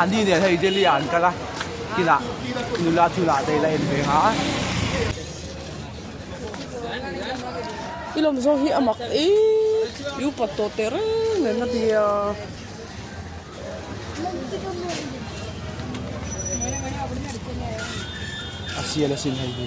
Andy nen hei Delhi ah an kal a, kinah i nula chu lah daih la en ve nga a. I lawm zawng hi a mak e, i upat tawh teh reng nen a ti a. A sial asin hei hi.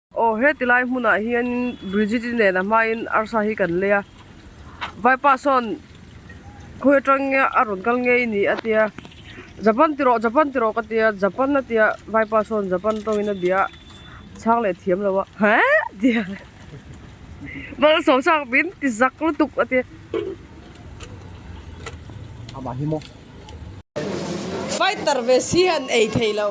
Aw, heti lai hmunah hianin Brijit-i nen a hmain arsa hi kan lei a, Vaipa sawn khawi atang nge a rawn kal ngei a nih a tia, Japan ti rawh, Japan ti rawh ka tia, Japan a tia, Vaipa sawn Japan tawngin a bia a, chhang leh thiam lo a, He? a tia, Bal sawm chak min ti zak lutuk a tia. Amah hi maw? Fighter ve si an ei thei lo.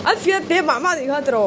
An fiat te mah mah nih kha tro.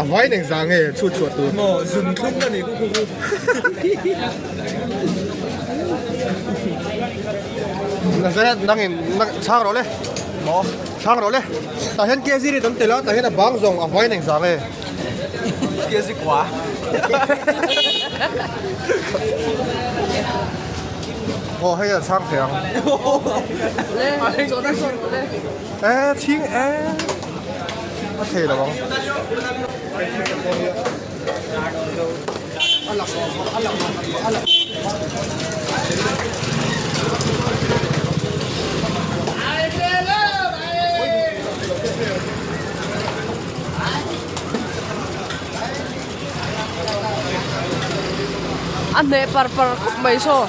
A vai neng zang e chhut chhuah tur. Maw zun thlum ka nih ku ku ku. Nazareth nang in na chhang rawh le. Maw chhang rawh le. Tah hian KZ ri kan tel a tah hian a bang zawng a vai neng zang e. KZ kua. Aw hei a chhang thei ang. Leh chawhna zawng rawh le. Ehh chhing ehh. a hneh par par khawp mai saw.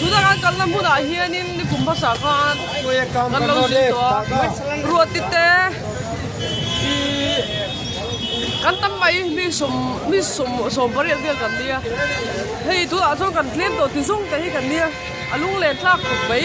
Tuna kan kalna hmunah hianin ni kum hmasa khan kan lo zui tawh a, ruati te ih kan tam mai mi sawm mi sawm sawm pariat vel kan nia hei tunah chuan kan tlem tawh ti zawng te hi kan nia a lung len tlak thut mai.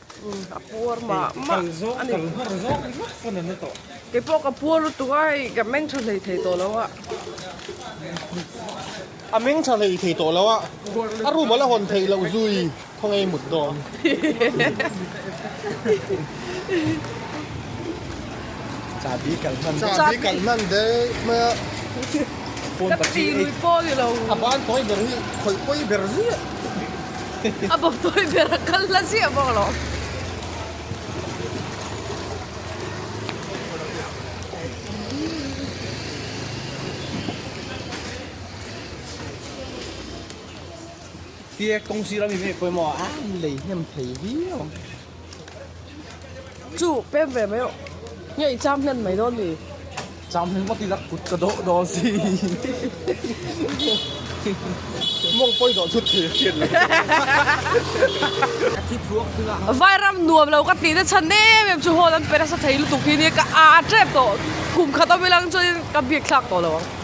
a puar mah mah a ni keipawh ka puar lutuk a hei ka meng tha hlei thei tawh lo a a meng tha hlei thei tawh lo a a room a la hawn theih loh zui khawngei mut dawn. Chabi kal hman. Chabi kal hman dek mai a. Phone ka ti lui pawh i lo. A ban tawi ber hi khawih pawi ber ziah. A bawk tawi ber a kal hla ziah bawk a lo. Tiek kawng sira mi mek pawimawh a a lei hnem thei viau. Chu pem ve mai awh. Nge i cham hlen mai dawn ni? Cham hlen maw tila kut ka dawh dawn si. Mawng pawi dawh thut thei a hriat lo. Ka thi thluak thung a. Vai ram nuam lo ka tihna chhan em em chu hawn an pe nasa thei lutuk hi nia ka aa tep tawh kum khat awm i lang chuan in ka biak thlak tawh lo ang.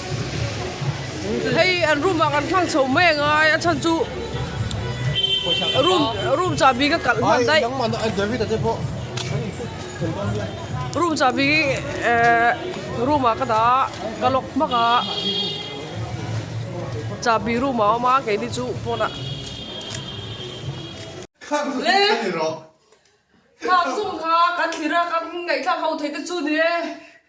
Hei an room ah kan hmang chho mai a ngai a chhan chu room room chahbi ka kalh hman daih room chahbi eh room ah ka dah ka lock hmak a chahbi room ah a awm a keini chu phone ah le thlak zawng kha kan thlir a kan ngaih thlak ho theih te chu ni e.